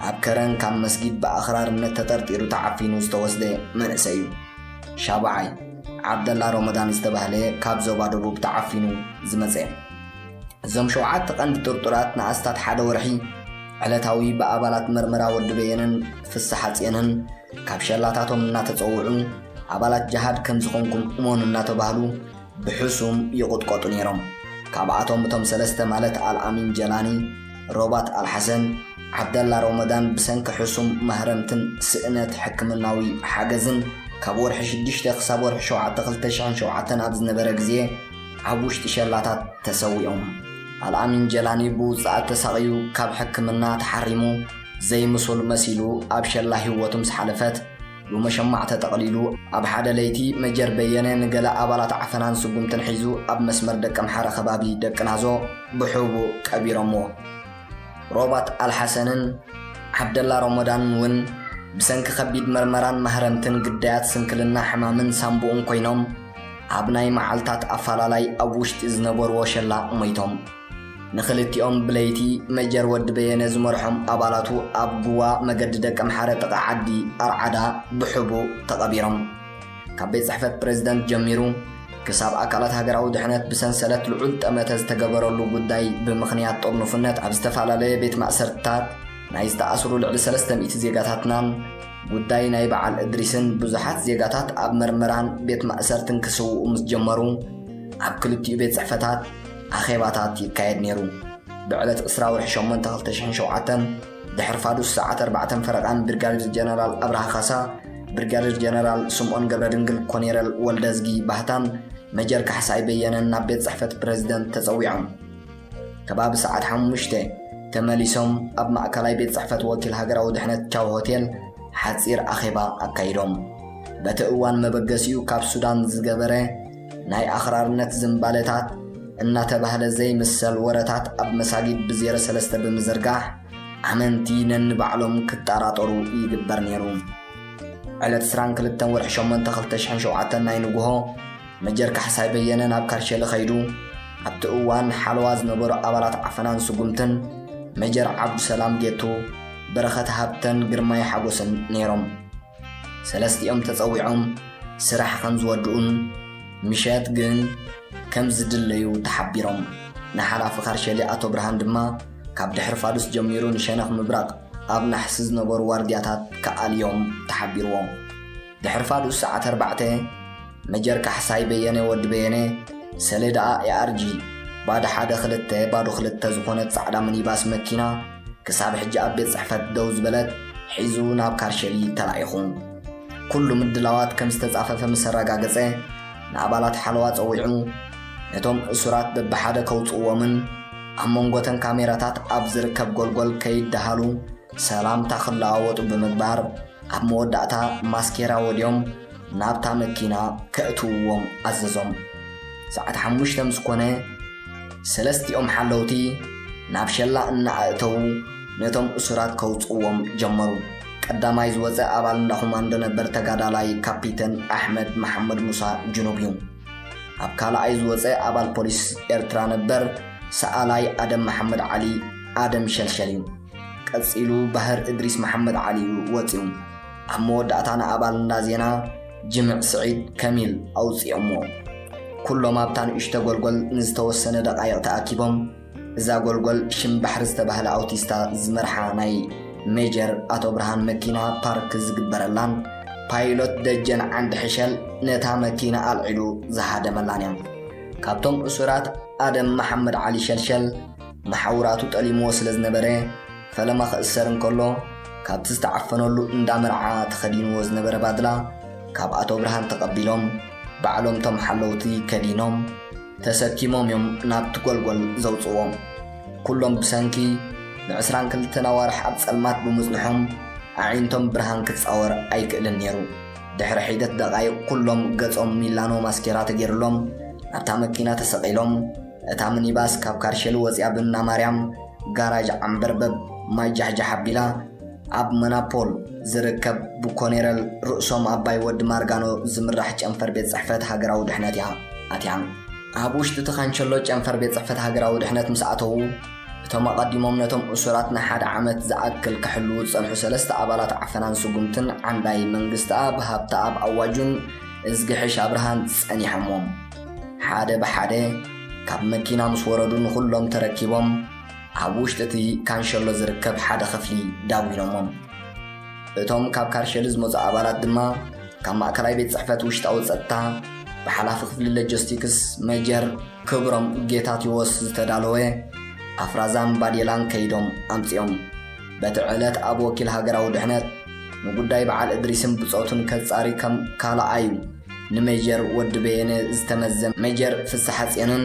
ኣብ ከረን ካብ መስጊድ ብኣኽራርነት ተጠርጢሩ ተዓፊኑ ዝተወስደ መንእሰይ እዩ። ሻብዓይ፣ ዓብደላ ሮመዳን ዝተባህለ ካብ ዞባ ደቡብ ተዓፊኑ ዝመጸ። እዞም ሸውዓተ ቀንዲ ጥርጡራት ንኣስታት ሓደ ወርሒ ዕለታዊ ብኣባላት መርመራ ወዲ በየነን ፍስሓጽየንህን ካብ ሸላታቶም እናተጸውዑ ኣባላት ጀሃድ ከም ዝኾንኩም እመኑ እናተባህሉ ብሕሱም ይቑጥቆጡ ነይሮም። ካብኣቶም እቶም ሰለስተ ማለት ኣልኣሚን ጀላኒ፣ ሮባት ኣልሓሰን፣ ዓብደላ ሮመዳን ብሰንኪ ሕሱም ማህረምትን ስእነት ሕክምናዊ ሓገዝን ካብ ወርሒ ሽዱሽተ ክሳብ ወርሒ ሸውዓተ ክልተ ሽሕን ሸውዓተን ኣብ ዝነበረ ግዜ ኣብ ውሽጢ ሸላታት ተሰዊኦም። ኣልኣሚን ጀላኒ ብውጽኣት ተሳቕዩ ካብ ሕክምና ተሓሪሙ ዘይምሱል መሲሉ ኣብ ሸላ ህይወቱ ምስ ሓለፈት ብመሸማዕ ተጠቕሊሉ ኣብ ሓደ ለይቲ መጀር በየነ ንገለ ኣባላት ዓፈናን ስጉምትን ሒዙ ኣብ መስመር ደቀምሓረ ከባቢ ደቅናዞ ብሕቡእ ቀቢሮምዎ። ሮባት ኣልሓሰንን ዓብደላ ሮሞዳንን እውን ብሰንኪ ከቢድ መርመራን ማህረምትን ግዳያት ስንክልና ሕማምን ሳንቡእን ኮይኖም ኣብ ናይ መዓልታት ኣፋላላይ ኣብ ውሽጢ ዝነበርዎ ሸላ ሞይቶም። ንኽልቲኦም ብለይቲ መጀር ወዲ በየነ ዝመርሖም ኣባላቱ ኣብ ጉዋ መገዲ ደቀምሓረ ጥቓ ዓዲ ኣርዓዳ ብሕቡእ ተቐቢሮም። ካብ ቤት ጽሕፈት ፕረዚደንት ጀሚሩ ክሳብ ኣካላት ሃገራዊ ድሕነት ብሰንሰለት ልዑል ጠመተ ዝተገበረሉ ጉዳይ ብምኽንያት ጥርኑፍነት ኣብ ዝተፈላለየ ቤት ማእሰርትታት ናይ ዝተኣስሩ ልዕሊ ሰለስተ ሚእቲ ዜጋታትናን ጉዳይ ናይ በዓል እድሪስን ብዙሓት ዜጋታት ኣብ መርመራን ቤት ማእሰርትን ክስውኡ ምስ ጀመሩ ኣብ ክልቲኡ ቤት ጽሕፈታት ኣኼባታት ይካየድ ነይሩ። ብዕለት ዕስራ ወርሒ ሸሞንተ ክልተ ሽሕን ሸውዓተን ድሕሪ ፋዱስ ሰዓት ኣርባዕተን ፈረቓን ብርጋዴር ጀነራል ኣብርሃ ካሳ፣ ብርጋዴር ጀነራል ስምኦን ገብረድንግል፣ ኮኔረል ወልደዝጊ ባህታን መጀር ካሕሳይ በየነን ናብ ቤት ጽሕፈት ፕረዚደንት ተጸዊዖም። ከባቢ ሰዓት ሓሙሽተ ተመሊሶም ኣብ ማእከላይ ቤት ጽሕፈት ወኪል ሃገራዊ ድሕነት ቻው ሆቴል ሓጺር ኣኼባ ኣካይዶም በቲ እዋን መበገሲኡ ካብ ሱዳን ዝገበረ ናይ ኣኽራርነት ዝምባለታት እናተባህለ ዘይምሰል ወረታት ኣብ መሳጊድ ብዜሮ ሰለስተ ብምዝርጋሕ ኣመንቲ ነንባዕሎም ክጠራጠሩ ይግበር ነይሩ ዕለት 22 ወርሒ 8 2007 ናይ ንግሆ መጀር ካሕሳይ በየነ ናብ ካርሸሊ ከይዱ ኣብቲ እዋን ሓለዋ ዝነበሩ ኣባላት ዓፈናን ስጉምትን መጀር ዓብዱሰላም ጌቱ፣ በረኸት ሃብተን ግርማይ ሓጎስን ነይሮም። ሰለስቲኦም ተጸዊዖም ስራሕ ከም ዝወድኡን ምሸት ግን ከም ዝድለዩ ተሓቢሮም። ንሓላፊ ካርሸሊ ኣቶ ብርሃን ድማ ካብ ድሕሪ ፋዱስ ጀሚሩ ንሸነኽ ምብራቕ ኣብ ናሕሲ ዝነበሩ ዋርድያታት ክኣልዮም ተሓቢርዎም። ድሕሪ ፋዱስ ሰዓት ኣርባዕተ፣ መጀር ካሕሳይ በየነ፣ ወዲ በየነ፣ ሰሌዳኣ ARG ባዶ ሓደ ክልተ ባዶ ክልተ ዝኾነት ጻዕዳ ሚኒባስ መኪና፣ ክሳብ ሕጂ ኣብ ቤት ጽሕፈት ደው ዝበለት፣ ሒዙ ናብ ካርሸሊ ተላኢኹ። ኩሉ ምድላዋት ከም ዝተጻፈፈ ምስ ኣረጋገጸ፣ ንኣባላት ሓለዋ ጸዊዑ፣ ነቶም እሱራት በብሓደ ከውጽእዎምን ኣብ መንጎ'ተን ካሜራታት ኣብ ዝርከብ ጎልጎል ከይደሃሉ ሰላምታ ክለዋወጡ ብምግባር፣ ኣብ መወዳእታ ማስኬራ ወድዮም ናብታ መኪና ከእትውዎም ኣዘዞም። ሰዓት ሓሙሽተ ምስ ኮነ ሰለስቲኦም ሓለውቲ ናብ ሸላ እናኣእተዉ ነቶም እሱራት ከውፅእዎም ጀመሩ። ቀዳማይ ዝወፀ ኣባል እንዳ ኮማንዶ ነበር ተጋዳላይ ካፒተን ኣሕመድ መሓመድ ሙሳ ጅኑብ እዩ። ኣብ ካልኣይ ዝወፀ ኣባል ፖሊስ ኤርትራ ነበር ሰኣላይ ኣደም መሓመድ ዓሊ ኣደም ሸልሸል እዩ። ቀጺሉ ባህር እድሪስ መሓመድ ዓሊ እዩ ወጺኡ። ኣብ መወዳእታ ንኣባል እንዳ ዜና ጅምዕ ስዒድ ከሚል ኣውጺኦሞ። ኩሎም ኣብታ ንእሽቶ ጎልጎል ንዝተወሰነ ደቓይቕ ተኣኪቦም። እዛ ጎልጎል ሽም ባሕሪ ዝተባህለ ኣውቲስታ ዝመርሓ ናይ ሜጀር ኣቶ ብርሃን መኪና ፓርክ ዝግበረላን ፓይሎት ደጀን ዓንዲ ሕሸል ነታ መኪና ኣልዒሉ ዝሃደመላን እያ። ካብቶም እሱራት ኣደም መሓመድ ዓሊ ሸልሸል፣ መሓውራቱ ጠሊምዎ ስለ ዝነበረ፣ ፈለማ ክእሰር እንከሎ፣ ካብቲ ዝተዓፈነሉ እንዳ መርዓ ተኸዲንዎ ዝነበረ ባድላ ካብ ኣቶ ብርሃን ተቐቢሎም፣ ባዕሎም እቶም ሓለውቲ ከዲኖም፣ ተሰኪሞም እዮም ናብቲ ጎልጎል ዘውጽእዎ። ኩሎም ብሰንኪ ንዕስራን ክልተን ኣዋርሕ ኣብ ጸልማት ብምጽንሖም፣ ኣዒንቶም ብርሃን ክጻወር ኣይክእልን ነይሩ። ድሕሪ ሒደት ደቓይቕ ኩሎም ገጾም ሚላኖ ማስኬራ ተገይርሎም ናብታ መኪና ተሰቒሎም፣ እታ ምኒባስ ካብ ካርሸሊ ወጺኣ ብእናማርያም ጋራጅ ዓምበርበብ ማይ ጃሕጃሕ ኣቢላ ኣብ መናፖል ዝርከብ ብኮኔረል ርእሶም ኣባይ ወዲ ማርጋኖ ዝምራሕ ጨንፈር ቤት ጽሕፈት ሃገራዊ ድሕነት እያ ኣትያ። ኣብ ውሽጢ እቲ ካንቸሎ ጨንፈር ቤት ጽሕፈት ሃገራዊ ድሕነት ምስ ኣተዉ፣ እቶም ኣቐዲሞም ነቶም እሱራት ንሓደ ዓመት ዝኣክል ክሕልዉ ዝጸንሑ ሰለስተ ኣባላት ዓፈናን ስጉምትን ዓንዳይ መንግስትኣብ ሃብተኣብ ኣዋጁን እዝጊሕሽ ኣብርሃን ጸኒሖምዎም። ሓደ ብሓደ ካብ መኪና ምስ ወረዱ ንዅሎም ተረኪቦም ኣብ ውሽጢ እቲ ካንሸሎ ዝርከብ ሓደ ክፍሊ ዳጒኖሞም። እቶም ካብ ካርሸሊ ዝመጹ ኣባላት ድማ ካብ ማእከላይ ቤት ጽሕፈት ውሽጣዊ ጸጥታ ብሓላፊ ክፍሊ ሎጂስቲክስ ሜጀር ክብሮም ጌታቴዎስ ዝተዳለወ ኣፍራዛን ባዴላን ከይዶም ኣምጺኦም። በቲ ዕለት ኣብ ወኪል ሃገራዊ ድሕነት ንጉዳይ በዓል እድሪስን ብጾቱን ከጻሪ ከም ካልኣዩ ንሜጀር ወዲ በየነ ዝተመዘ ሜጀር ፍስሓጽዮንን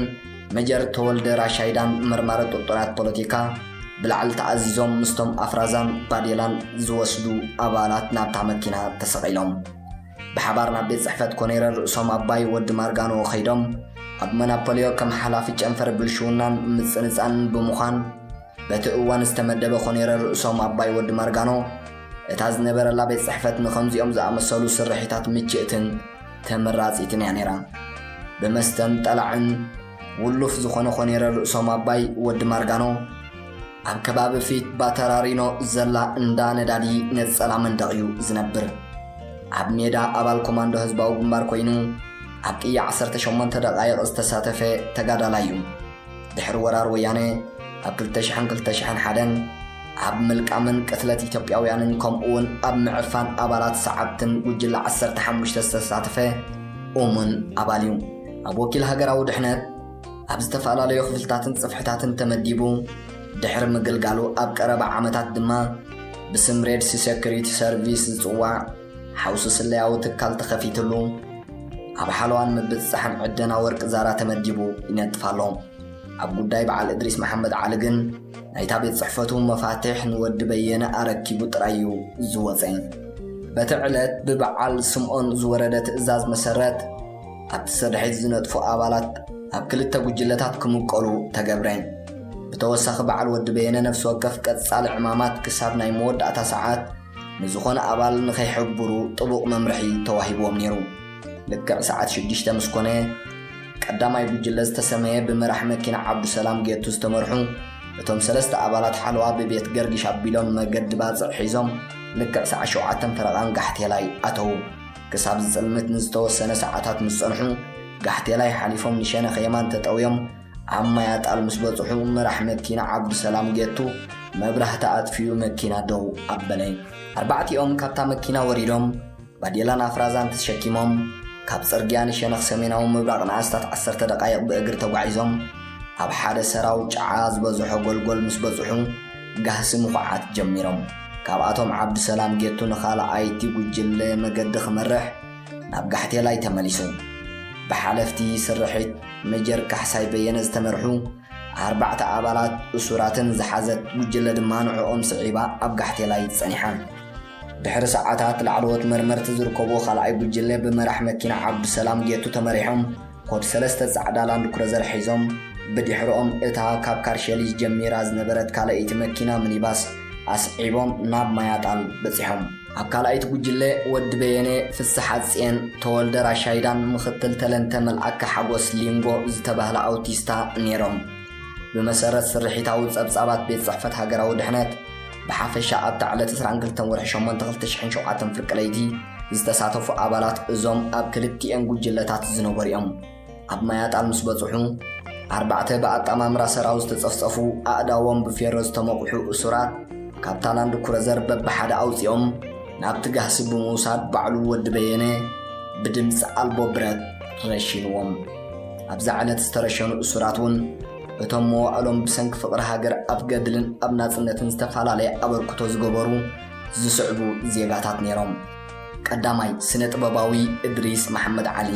ሜጀር ተወልደ ራሻይዳን መርማሪ ጥርጡራት ፖለቲካ ብላዕሊ ተኣዚዞም ምስቶም ኣፍራዛን ባዴላን ዝወስዱ ኣባላት ናብታ መኪና ተሰቒሎም ብሓባር ናብ ቤት ጽሕፈት ኮኔረር ርእሶም ኣባይ ወዲ ማርጋኖ ከይዶም ኣብ መናፖልዮ ከም ሓላፊ ጨንፈር ብልሽውናን ምጽንጻንን ብምዃን በቲ እዋን ዝተመደበ ኮኔረል ርእሶም ኣባይ ወዲ ማርጋኖ፣ እታ ዝነበረላ ቤት ጽሕፈት ንኸምዚኦም ዝኣመሰሉ ስርሒታት ምችእትን ተመራጺትን እያ ነይራ። ብመስተን ጠላዕን ውሉፍ ዝኾነ ኮኔረል ርእሶም ኣባይ ወዲ ማርጋኖ፣ ኣብ ከባቢ ፊት ባተራሪኖ ዘላ እንዳ ነዳዲ ነጸላ መንደቕ እዩ ዝነብር። ኣብ ሜዳ ኣባል ኮማንዶ ህዝባዊ ግንባር ኮይኑ ኣብ ቅያ ዓሰርተ ሸሞንተ ደቓይቕ ዝተሳተፈ ተጋዳላይ እዩ። ድሕሪ ወራር ወያነ ኣብ 2000ን 2001ን ኣብ ምልቃምን ቅትለት ኢትዮጵያውያንን ከምኡውን ኣብ ምዕፋን ኣባላት ሰዓብትን ጉጅለ 15 ዝተሳተፈ እሙን ኣባል እዩ ኣብ ወኪል ሃገራዊ ድሕነት ኣብ ዝተፈላለዩ ክፍልታትን ጽፍሕታትን ተመዲቡ ድሕሪ ምግልጋሉ ኣብ ቀረባ ዓመታት ድማ ብስም ሬድሲ ሴኩሪቲ ሰርቪስ ዝጽዋዕ ሓውሲ ስለያዊ ትካል ተኸፊትሉ ኣብ ሓለዋን ምብጽጻሕን ዕደና ወርቂ ዛራ ተመዲቡ ይነጥፍ ኣሎ። ኣብ ጉዳይ በዓል እድሪስ መሓመድ ዓሊ ግን ናይታ ቤት ጽሕፈቱ መፋትሕ ንወዲ በየነ ኣረኪቡ ጥራይ እዩ ዝወጸ። በቲ ዕለት ብበዓል ስምኦን ዝወረደ ትእዛዝ መሰረት ኣብቲ ሰድሒት ዝነጥፉ ኣባላት ኣብ ክልተ ጉጅለታት ክምቀሉ ተገብረ። ብተወሳኺ በዓል ወዲ በየነ ነፍሲ ወከፍ ቀጻሊ ዕማማት ክሳብ ናይ መወዳእታ ሰዓት ንዝኾነ ኣባል ንኸይሕብሩ ጥቡቕ መምርሒ ተዋሂብዎም ነይሩ። ልክዕ ሰዓት ሽዱሽተ ምስ ኮነ፣ ቀዳማይ ጉጅለ ዝተሰመየ ብመራሒ መኪና ዓብዱሰላም ጌቱ ዝተመርሑ እቶም ሰለስተ ኣባላት ሓለዋ ብቤት ገርግሽ ኣቢሎም መገዲ ባጽዕ ሒዞም ልክዕ ሰዓት ሸውዓተን ፈረቓን ጋሕቴላይ ኣተዉ። ክሳብ ዝጽልምት ንዝተወሰነ ሰዓታት ምስ ጸንሑ፣ ጋሕቴላይ ሓሊፎም ንሸነኽ የማን ተጠውዮም ኣብ ማይ ኣጣል ምስ በጽሑ መራሕ መኪና ዓብዱሰላም ጌቱ መብራህቲ ኣጥፊኡ መኪና ደው ኣበለ። ኣርባዕቲኦም ካብታ መኪና ወሪዶም ባዴላን ኣፍራዛን ተሸኪሞም ካብ ጽርግያ ንሸነኽ ሰሜናዊ ምብራቕ ንኣስታት ዓሰርተ ደቓይቕ ብእግሪ ተጓዒዞም ኣብ ሓደ ሰራው ጨዓ ዝበዝሖ ጎልጎል ምስ በጽሑ ጋህሲ ምኹዓት ጀሚሮም። ካብኣቶም ዓብዱሰላም ጌቱ ንኻልኣይቲ ጉጅለ መገዲ ክመርሕ ናብ ጋሕቴላይ ተመሊሱ። ብሓለፍቲ ስርሒት መጀር ካሕሳይ በየነ ዝተመርሑ ኣርባዕተ ኣባላት እሱራትን ዝሓዘት ጉጅለ ድማ ንዕኦም ስዒባ ኣብ ጋሕቴላይ ጸኒሓ። ድሕሪ ሰዓታት ላዕለዎት መርመርቲ ዝርከብዎ ካልኣይ ጉጅለ ብመራሕ መኪና ዓብዱሰላም ጌቱ ተመሪሖም ኮድ ሰለስተ ጻዕዳ ላንድኩረዘር ሒዞም ብድሕርኦም እታ ካብ ካርሸሊስ ጀሚራ ዝነበረት ካልኣይቲ መኪና ሚኒባስ ኣስዒቦም ናብ ማያጣል በጺሖም። ኣብ ካልኣይቲ ጉጅለ ወዲ በየነ፣ ፍስሓ ጽየን፣ ተወልደ ራሻይዳን ምኽትል ተለንተ መልኣከ ሓጎስ ሊንጎ ዝተባህላ ኣውቲስታ ነይሮም። ብመሰረት ስርሒታዊ ጸብጻባት ቤት ጽሕፈት ሃገራዊ ድሕነት፣ ብሓፈሻ ኣብታ ዕለት ዕስራን ክልተን ወርሒ ሸሞንተ ክልተ ሽሕን ሸውዓተን ፍርቂ ለይቲ ዝተሳተፉ ኣባላት እዞም ኣብ ክልቲኤን ጉጅለታት ዝነበሩ'ዮም። ኣብ ማይ ኣጣል ምስ በጽሑ፣ ኣርባዕተ ብኣጣማምራ ሰራው ዝተጸፍጸፉ ኣእዳዎም ብፌሮ ዝተመቑሑ እሱራት ካብታ ላንድ ኩረዘር በብሓደ ኣውጺኦም ናብቲ ጋህሲ ብምውሳድ ባዕሉ ወዲ በየነ ብድምጺ ኣልቦ ብረት ረሺንዎም። ኣብዛ ዕለት ዝተረሸኑ እሱራት እውን እቶም መዋእሎም ብሰንኪ ፍቕሪ ሃገር ኣብ ገድልን ኣብ ናጽነትን ዝተፈላለየ ኣበርክቶ ዝገበሩ ዝስዕቡ ዜጋታት ነይሮም። ቀዳማይ፣ ስነ ጥበባዊ እድሪስ መሓመድ ዓሊ።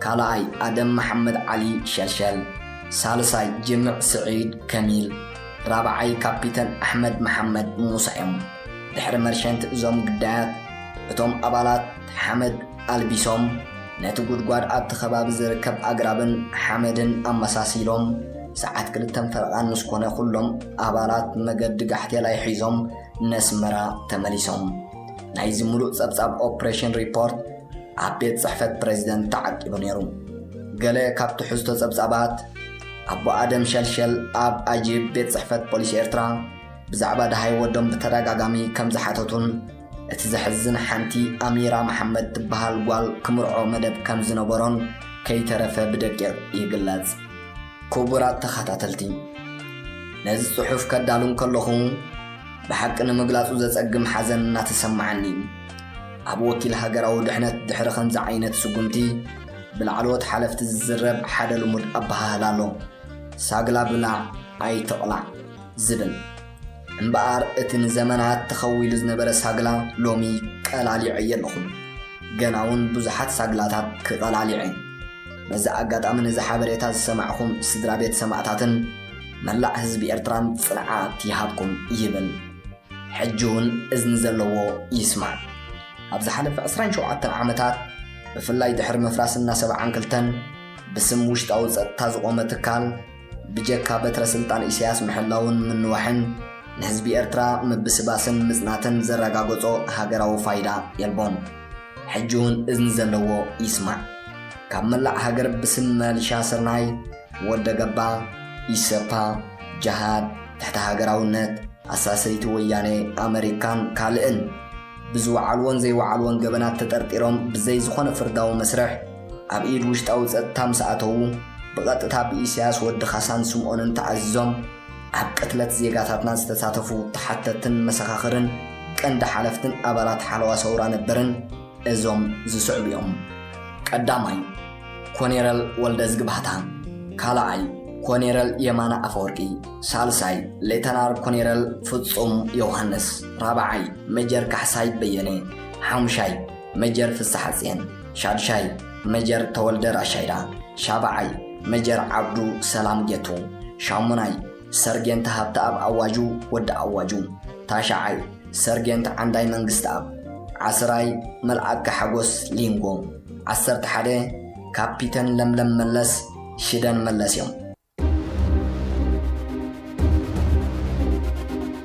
ካልኣይ፣ ኣደም መሓመድ ዓሊ፣ ሸልሸል፣ ሳልሳይ፣ ጅምዕ ስዒድ፣ ከሚል፣ ራብዓይ፣ ካፒተን ኣሕመድ መሓመድ፣ ሙሳ፣ እዮም። ድሕሪ መርሸንቲ እዞም ግዳያት፣ እቶም ኣባላት ሓመድ ኣልቢሶም፣ ነቲ ጉድጓድ ኣብቲ ከባቢ ዝርከብ ኣግራብን ሓመድን ኣመሳሲሎም፣ ሰዓት ክልተን ፈረቓን ምስ ኮነ ኩሎም ኣባላት መገዲ ጋሕቴላይ ሒዞም ነስመራ ተመሊሶም። ናይዚ ምሉእ ጸብጻብ ኦፕሬሽን ሪፖርት፣ ኣብ ቤት ጽሕፈት ፕረዚደንት ተዓቂቡ ነይሩ። ገለ ካብ ትሕዝቶ ጸብጻባት፣ ኣቦ ኣደም ሸልሸል ኣብ ኣጂፕ ቤት ጽሕፈት ፖሊስ ኤርትራ ብዛዕባ ደሃይ ወዶም ብተደጋጋሚ ከም ዝሓተቱን እቲ ዘሕዝን ሓንቲ ኣሚራ መሓመድ ትበሃል ጓል ክምርዖ መደብ ከም ዝነበሮን ከይተረፈ ብደቂቕ ይግለጽ። ክቡራት ተኸታተልቲ፣ ነዚ ጽሑፍ ከዳሉ እንከለኹ ብሓቂ ንምግላጹ ዘጸግም ሓዘን እናተሰማዓኒ እዩ። ኣብ ወኪል ሃገራዊ ድሕነት ድሕሪ ከምዚ ዓይነት ስጉምቲ ብላዕለዎት ሓለፍቲ ዝዝረብ ሓደ ልሙድ ኣበሃህላ ኣሎ፣ ሳግላ ብላዕ ኣይትቕላዕ ዝብል። እምበኣር እቲ ንዘመናት ተኸዊሉ ዝነበረ ሳግላ ሎሚ ቀላሊዐዮ ኣለኹ። ገና'ውን ብዙሓት ሳግላታት ክቐላሊዕ'የ። በዚ ኣጋጣሚ ነዚ ሓበሬታ ዝሰማዕኩም ስድራቤት ሰማእታትን መላእ ህዝቢ ኤርትራን ጽንዓት ይሃብኩም ይብል። ሕጂ እውን እዝኒ ዘለዎ ይስማዕ። ኣብ ዝሓለፈ ዕስራን ሸውዓተን ዓመታት ብፍላይ ድሕሪ ምፍራስ እና ሰብዓን ክልተን ብስም ውሽጣዊ ጸጥታ ዝቖመ ትካል ብጀካ በትረ ስልጣን ኢሳያስ ምሕላውን ምንዋሕን ንህዝቢ ኤርትራ ምብስባስን ምጽናትን ዘረጋገጾ ሃገራዊ ፋይዳ የልቦን። ሕጂ እውን እዝኒ ዘለዎ ይስማዕ። ካብ መላእ ሃገር ብስም መልሻ ስርናይ ወደ ገባ፣ ኢሰፓ፣ ጀሃድ፣ ትሕተ ሃገራውነት፣ ኣሳሰይቲ ወያኔ፣ ኣመሪካን ካልእን ብዝወዓልዎን ዘይወዓልዎን ገበናት ተጠርጢሮም ብዘይ ዝኾነ ፍርዳዊ መስርሕ ኣብ ኢድ ውሽጣዊ ጸጥታ ምስ ኣተዉ ብቐጥታ ብኢሳያስ ወዲ ካሳን ስምኦንን ተኣዚዞም ኣብ ቅትለት ዜጋታትና ዝተሳተፉ ተሓተትን መሰኻኽርን ቀንዲ ሓለፍትን ኣባላት ሓለዋ ሰውራ ነበርን እዞም ዝስዕቡ እዮም። ቀዳማይ፣ ኮኔረል ወልደዝጊ ባህታ፣ ካልኣይ፣ ኮኔረል የማነ ኣፈወርቂ፣ ሳልሳይ፣ ሌተናር ኮኔረል ፍጹም ዮውሃንስ፣ ራብዓይ፣ ሜጀር ካሕሳይ በየነ፣ ሓሙሻይ፣ ሜጀር ፍስሓጽየን፣ ሻድሻይ፣ ሜጀር ተወልደ ራሻይዳ፣ ሻብዓይ፣ ሜጀር ዓብዱ ሰላም ጌቱ፣ ሻሙናይ፣ ሰርጌንት ሃብተኣብ ኣዋጁ ወዲ ኣዋጁ ታሽዓይ ሰርጌንት ዓንዳይ መንግስተኣብ ዓስራይ መልኣከ ሓጎስ ሊንጎ ዓሰርተ ሓደ ካፒተን ለምለም መለስ ሽደን መለስ እዮም።